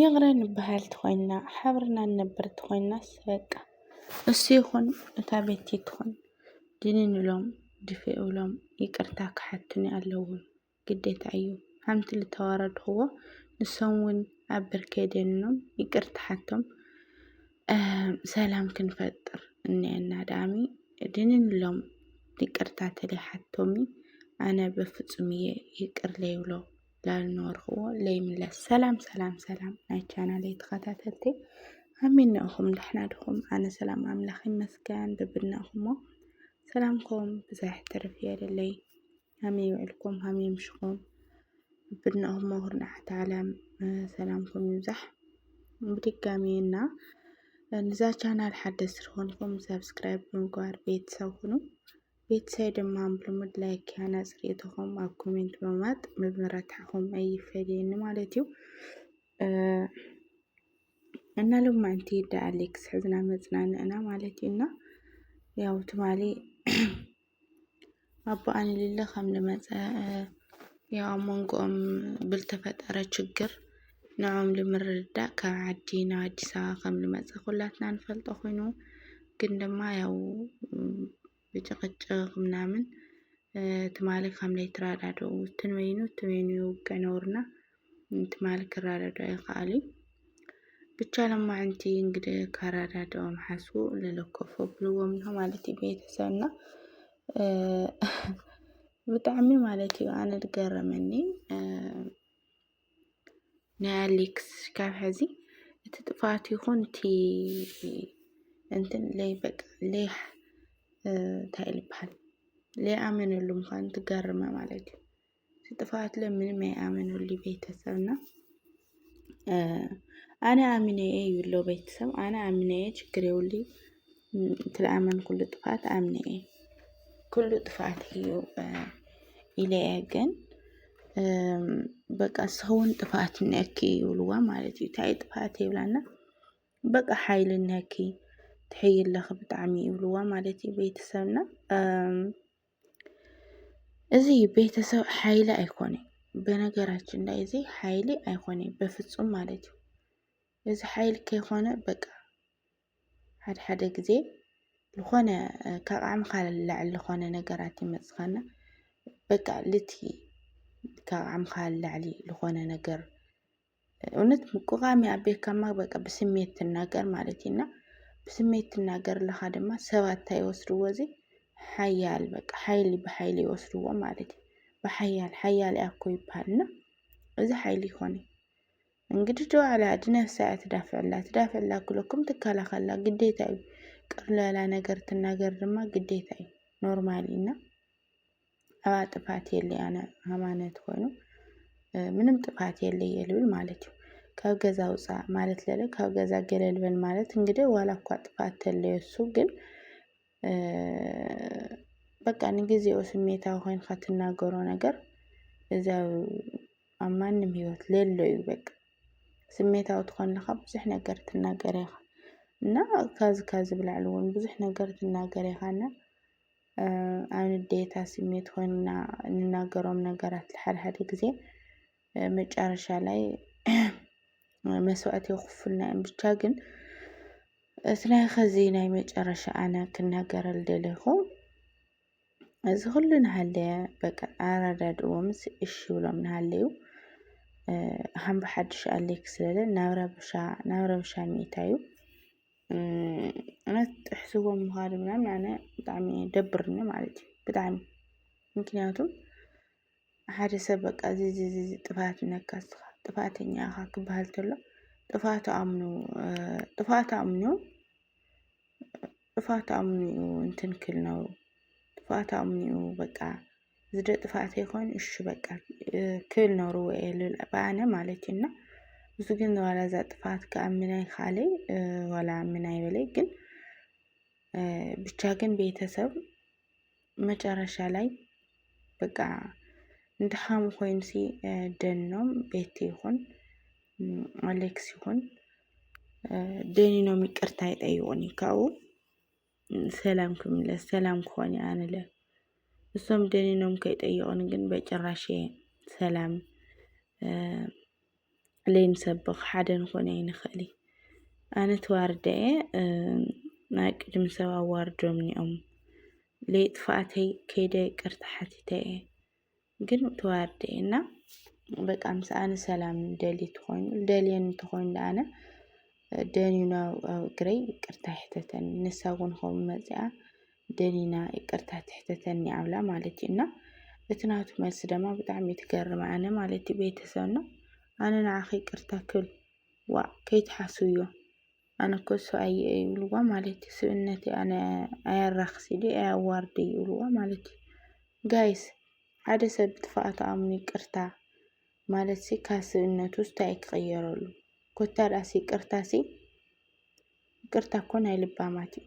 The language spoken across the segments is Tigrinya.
ይቕረ ንበሃል ተኾይንና ሓብርና ንነብር ተኾይንናስ በቃ እሱ ይኹን እታ ቤቲ ትኹን ድንን ኢሎም ድፍእ ኢሎም ይቅርታ ክሓቱኒ ኣለዎም ግዴታ እዩ ሓንቲ ዝተዋረድኽዎ ንሶም እውን ኣብ ብርከይ ደኒኖም ይቅርታ ሓቶም ሰላም ክንፈጥር እኒአና ዳኣሚ ድንን ኢሎም ይቅርታ ተለይሓቶሚ ኣነ በፍጹም እየ ይቅር ለይብሎ ላልነበርክዎ ለይምለስ ሰላም ሰላም ሰላም ናይ ቻናለይ ተኸታተልቲ ኣሚናኹም ዳሕና ድኹም ኣነ ሰላም ኣምላኽ ይመስገን ብብድናኹሞ ሰላምኩም ብዛሕ ትርፍ የለለይ ሃመይ ውዕልኩም ሃመይ ምሽኹም ብብድናኹሞ ኩርናዓት ዓለም ሰላምኩም ይብዛሕ ብድጋሚ እና ንዛ ቻናል ሓደስ ዝኾንኩም ሰብስክራይብ ብምግባር ቤተሰብ ሁኑ ቤተሰበይ ድማ ብልሙድ ላይክ ሃናፂ ርእይቶኹም ኣብ ኮሜንት ብምባጥ ምብርታዕኹም ኣይፈለየኒ ማለት እዩ እና ሎማዕንቲ ዳኣ ሌክስ ሕዝና መፅናንዕና ማለት እዩ እና ያው ትማሊ ኣቦ ኣንሊለ ከም ዝመፀ ያው ኣብ መንጎኦም ብልተፈጠረ ችግር ንዕኦም ልምርድዳእ ካብ ዓዲ ናብ ኣዲስ ኣበባ ከም ልመጸ ኩላትና ንፈልጦ ኮይኑ ግን ድማ ያው ብጭቕጭቕ ምናምን ትማሊ ከም ለይትረዳድኡ ትንበይኑ ትበይኑ ይውግዕ ነውርና ትማሊ ክረዳድኡ ኣይኸኣሉን ብቻ ለማዕንቲ እንግዲህ ካረዳድኦም ሓስቡ ለለኮፎ ብልዎም ነው ማለት እዩ ቤተሰብና ብጣዕሚ ማለት እዩ ኣነ ዝገረመኒ ናይ ኣሌክስ ካብ ሕዚ እቲ ጥፋት ይኹን እቲ እንትን ለይ በቃ ለይ እንታይ ልበሃል ለይኣመነሉ ምዃኑ ትገርመ ማለት እዩ እቲ ጥፋት ለ ምንም ኣይኣመነሉ ቤተሰብና ኣነ ኣሚነየ ይብሎ ቤተሰብ ኣነ ኣሚነየ ችግር የብሉይ ትልኣመን ኩሉ ጥፍኣት ኣምነ እየ ኩሉ ጥፍኣት እዩ ኢለ እየ ግን በቃ ሰውን ጥፍኣት ነኪ ይብልዋ ማለት እዩ እንታይ ጥፍኣት የብላና በቃ ሓይሊ ነኪ ትሕይ ኣለኺ ብጣዕሚ ይብልዋ ማለት እዩ ቤተሰብና እዚ ቤተሰብ ሓይሊ ኣይኮነን በነገራችን ላይ እዚ ሓይሊ ኣይኮነን በፍጹም ማለት እዩ እዚ ሓይሊ ከይኮነ በቃ ሓደ ሓደ ግዜ ዝኾነ ካብ ዓቕምኻ ልላዕሊ ዝኾነ ነገራት ይመጽኻና በቃ ልቲ ካብ ዓቕምኻ ልላዕሊ ዝኾነ ነገር እውነት ምቁቓም ይኣቤካማ በቃ ብስሜት ትናገር ማለት እዩ እና ብስሜት ትናገር ኣለኻ ድማ ሰባት እንታይ ይወስድዎ እዚ ሓያል በቃ ሓይሊ ብሓይሊ ይወስድዎ ማለት እዩ ብሓያል ሓያል እያ እኮ ይበሃል እና እዚ ሓይሊ ይኾን እዩ እንግዲ ዶ ዓላዲ ነፍሳ እያ ትዳፍዕላ ትዳፍዕላ ክለኩም ትከላኸላ ግዴታ እዩ ቅርለላ ነገር ትናገር ድማ ግዴታ እዩ ኖርማሊ እና ኣብኣ ጥፋት የለ ኣነ ሃይማኖት ኮይኑ ምንም ጥፋት የለ የልብል ማለት እዩ ካብ ገዛ ውፃእ ማለት ለለ ካብ ገዛ ገለልበል ማለት እንግዲህ ዋላ እኳ ጥፋት ተለየሱ ግን በቃ ንግዜኡ ስሜታዊ ኮይንካ ትናገሮ ነገር እዚ ኣብ ማንም ሂወት ለሎ እዩ በቃ ስሜታዊ ትኾን ኣለኻ ብዙሕ ነገር ትናገር ኢኻ እና ካብዚ ካብዚ ብላዕሊ እውን ብዙሕ ነገር ትናገር ኢኻ እና ኣብ ንዴታ ስሜት ኮይንና ንናገሮም ነገራት ሓድሓደ ግዜ መጨረሻ ላይ መስዋእት የኽፍልና እዮም ብቻ ግን እቲ ናይ ኸዚ ናይ መጨረሻ ኣነ ክናገረል ደለኹ እዚ ኩሉ ንሃለየ በቃ ኣረዳድእዎ ምስ እሺ ብሎም ንሃለዩ ሃምብ ሓድሽ ኣሌክ ስለለ ናብ ረብሻ ናብ ረብሻ ሚእታ እዩ እነት ጥሕስዎ ምዃድ ምናምን ኣነ ብጣዕሚ ደብርኒ ማለት እዩ ብጣዕሚ ምክንያቱም ሓደ ሰብ በቃ እዚ እዚ እዚ እዚ ጥፍኣት ነካ ንስኻ ጥፍኣተኛ ኢኻ ክበሃል ከሎ ጥፍኣቱ ኣምኑ እ፣ ጥፍኣቱ ኣምኑ ጥፍኣቱ ኣምኑ እዩ እንትን ክብል ነብሩ ጥፍኣቱ ኣምኑ እዩ በቃ እዚ ዶ ጥፍኣተይ ኮይኑ እሺ በቃ እ፣ ክብል ነብርዎ እየ ልብል ብኣነ ማለት እዩ እና እዚ ግን ዋላ እዛ ጥፍኣት ከዓ ምን ኣይከኣለይ እ፣ ዋላ ምን ኣይበለይ ግን እ፣ ብቻ ግን ቤተሰብ መጨረሻ ላይ በቃ ንድሓሙ ኮይንሲ ደኖም ቤት ይኹን ኣሌክስ ይኹን ደኒኖም ይቅርታ ይጠይቁኒ ካብኡ ሰላም ክምለስ ሰላም ክኾን ኣንለ እሶም ደኒኖም ከይጠየቁን ግን በጭራሽ ሰላም ለይንሰብኽ ሓደ ንኾን ኣይንኽእል እዩ። ኣነ ተዋርደ እየ ናይ ቅድሚ ሰብ ኣዋርዶምኒ እዮም ለይ ጥፍኣተይ ከይደ ይቅርታ ሓቲተ እየ ግን ተዋርደ እየ እና በቃ ምስ ኣነ ሰላም ደሊ ተኾይኑ ደልየኒ ተኾይኑ ደኣነ ደንዩና ኣብ እግረይ ይቅርታ ይሕተተኒ ንሳ እውን ከምኡ መፂኣ ደሊና ይቅርታ ትሕተተኒ ኣብላ ማለት እዩ እና እቲ ናቱ መልሲ ደማ ብጣዕሚ ትገርም ኣነ ማለት እዩ ቤተሰብ ነው ኣነ ንዓኺ ይቅርታ ክብል ዋ ከይትሓስብዮ ኣነ እኮ ሰብኣየ እዩ ይብልዋ ማለት እዩ ስብእነተይ ኣነ ኣየራኽስ ኢሉ ኣየዋርድ እዩ ይብልዋ ማለት እዩ ጋይስ ሓደ ሰብ ብጥፍኣቱ ኣምኑ ይቅርታ ማለት ሲ ካብ ስብእነቱ እንታይ እዩ ክቕየረሉ ኮታ ደኣሲ ይቅርታ ሲ ይቅርታ እኮ ናይ ልባማት እዩ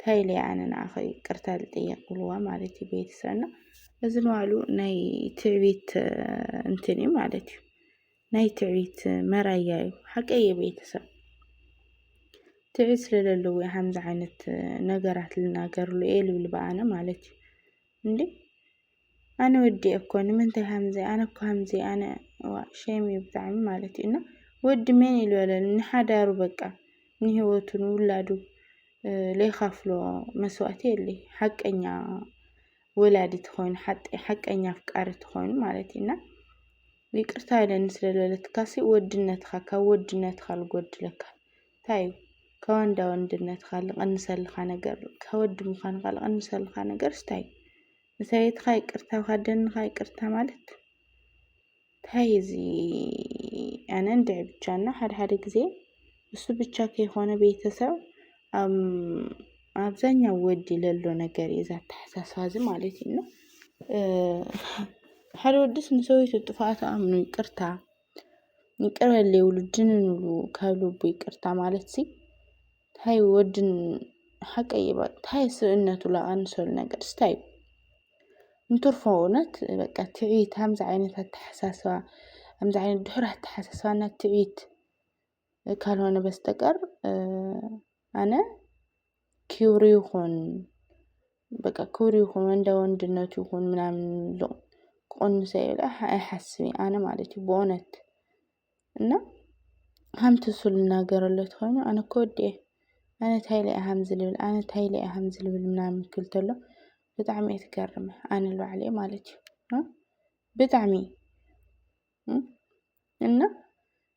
ታይ ኢለ ኣነ ንዓኺ ይቅርታ ዝጥየቅ ብልዋ ማለት እዩ ቤተሰብ እና እዚ ንባዕሉ ናይ ትዕቢት እንትን እዩ ማለት እዩ ናይ ትዕቢት መራያ እዩ ሓቀየ ቤተሰብ ትዕቢት ስለለለዎ እዩ ሓምዚ ዓይነት ነገራት ልናገርሉ እየ ልብል በኣነ ማለት እዩ እንዴ ኣነ ወዲየ እኮ ንምንታይ ሃምዚ ኣነ እኮ ሃምዚ ኣነ እዋእ ሸም እዩ ብጣዕሚ ማለት እዩ እና ወዲ መን ኢሉ በለኒ ንሓዳሩ በቃ ንህይወቱ ንውላዱ ለይካፍሎ መስዋእቲ የለይ ሓቀኛ ወላዲ ትኾይኑ ሓቀኛ ኣፍቃሪ ትኾይኑ ማለት እዩ እና ይቅርታ ኢለኒ ስለ ዝበለትካሲ ወድነትካ ካብ ወድነትካ ልጎድለካ እንታይ እዩ ካብ ወንዳ ወንድነትካ ልቐንሰልካ ነገር ካብ ወዲ ምዃንካ ልቐንሰልካ ነገር እንታይ እዩ ንሰበይትኻ ይቅርታ ኣብ ካደንኻ ይቅርታ ማለት ታይ እዚ ኣነ እንድዒ ብቻ እና ሓደ ሓደ ጊዜ እሱ ብቻ ከይኮነ ቤተሰብ ኣብዛኛው ወዲ ለሎ ነገር እዩ እዛ ኣተሓሳስባ እዚ ማለት እዩ እና ሓደ ወድስ ንሰበይቱ ጥፍኣቱ ኣምኑ ይቅርታ ይቅረ በለይ ውሉድን ንብሉ ካብ ልቡ ይቅርታ ማለት ሲ ታይ ወድን ሓቀይ እባ ታይ ስብእነቱ ላቀንሰሉ ነገር ስታይ እዩ እንትርፎ እውነት በቃ ትዕቢት ከምዚ ዓይነት ኣተሓሳስባ ከምዚ ዓይነት ድሑር ኣተሓሳስባ እና ትዕቢት ካልሆነ በስተቀር ኣነ ክብሩ ይኹን በቃ ክብሩ ይኹን እንደ ወንድነቱ ይኹን ምናምን ሎ ክቕንሶ ኢለ ኣይሓስብን ኣነ ማለት እዩ ብእውነት እና ከምቲ እሱ ልናገረሉ ተኾይኑ ኣነ እኮ ወዲ እየ ኣነ ታይ ኢለ እየ ከምዚ ልብል ኣነ ታይ ኢለ እየ ከምዚ ልብል ምናምን ክብል ተሎ ብጣዕሚ እየ ትገርመ ኣነ ንባዕለ ማለት እዩ ብጣዕሚ እና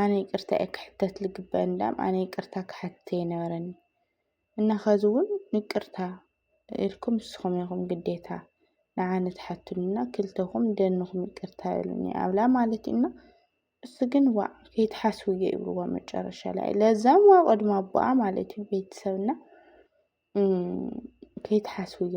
ኣነ ይቅርታ እየ ክሕተት ልግበእ እንዳም ኣነ ይቅርታ ክሓትት የነበረኒ እና ከዚ እውን ንቅርታ ኢልኩም ንስኹም ኢኹም ግዴታ ንዓነ ትሓቱንና ክልተኹም ደንኹም ይቅርታ በሉኒ ኣብላ ማለት እዩ እና እሱ ግን ዋ ከይትሓስቡ እየ ይብልዎ መጨረሻ ላይ ለዛም ዋ ቅድሚ ኣቦኣ ማለት እዩ ቤተሰብና ከይትሓስቡ እዮ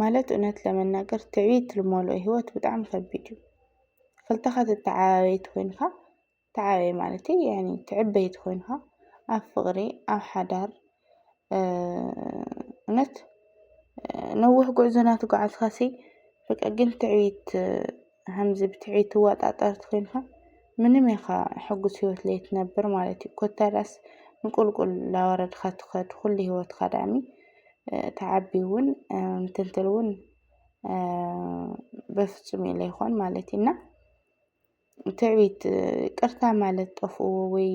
ማለት እውነት ለመናገር ትዕቢት ልመልኦ ሂወት ብጣዕሚ ከቢድ እዩ። ክልተ ተተዓባበይቲ ኮይንካ ተዓባበይቲ ማለተይ ያኒ ትዕበይቲ ኮይንካ ኣብ ፍቅሪ ኣብ ሓዳር እውነት ነዊሕ ጉዕዞ ናተጉዓዝካሲ በቃ ግን ትዕቢት። ሃምዚ ብትዕቢት ትዋጣጠር ትኮይንካ ምንም ኢካ ሕጉስ ሂወት ለይትነብር ማለት እዩ ኮታ ዳኣስ ንቁልቁል ላወረድካ ትከድ ኩሉ ሂወትካ ዳኣሚ ትዓቢ እውን ምትንትል እውን በፍጹም እዩ ለይኮን ማለት እዩ እና ትዕቢት ቅርታ ማለት ጠፍእዎ ወይ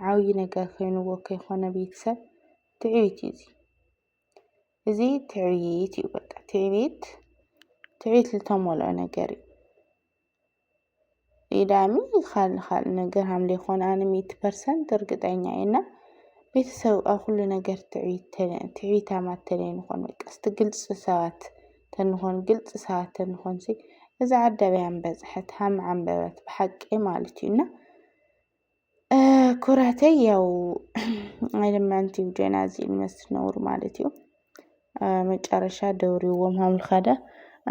ዓብዪ ነገር ኮይንዎ ከይኮነ ቤተሰብ ትዕቢት እዩ እዚ እዚ ትዕቢት እዩ። በቃ ትዕቢት ትዕቢት ዝተሞልኦ ነገር እዩ። ኢዳሚ ካልእ ካልእ ነገር ሃምለ ይኾነ ኣነ ሚእቲ ፐርሰንት እርግጠኛ እየ እና ቤተሰብ ኣብ ኩሉ ነገር ትዕቢት ተለ- ትዕቢታማት ተለይንኾን በቃ እስቲ ግልፂ ሰባት ተንኾን ግልፂ ሰባት ተንኾን ሲ እዚ ዓዳበይ ኣንበፅሐት ሃም ዓንበበት ብሓቂ ማለት እዩ እና ኩራተይ ያው ኣይለማንቲ ጀና እዚ መስ ነውሩ ማለት እዩ መጨረሻ ደውርዎም ሃምልኻዳ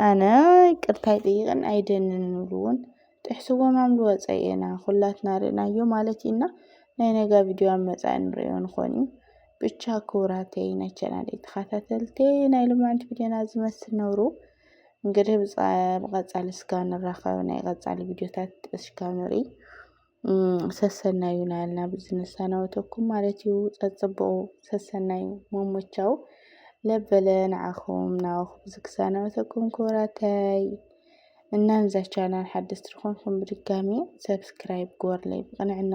ኣነ ይቅርታ ይጥይቕን ኣይደንን ንብልውን ጥሕስዎም ሃምሉ ወፀየና ኩላትና ርእናዮ ማለት እዩና ናይ ነጋ ቪድዮ ኣብ መፃኢ ንርእዮ ንኾን እዩ ብቻ ክውራተይ ናይ ቻናለይ ተኸታተልቲ ናይ ልማንቲ ቪድዮና ዝመስል ነውሩ እንግዲህ ብቀጻሊ እስካ ንራኸብ ናይ ቀጻሊ ቪድዮታት እስካ ንርኢ ሰሰናዩ ናልና ብዝንሳናወተኩም ማለት እዩ ጸጽብቑ ሰሰናዩ መሞቻው ለበለ ንዓኹም ናወኹም ዝክሳናወተኩም ክብራታይ እና ንዛ ቻናል ሓደስቲ ዝኾንኩም ብድጋሚ ሰብስክራይብ ግበርለይ ብቕንዕና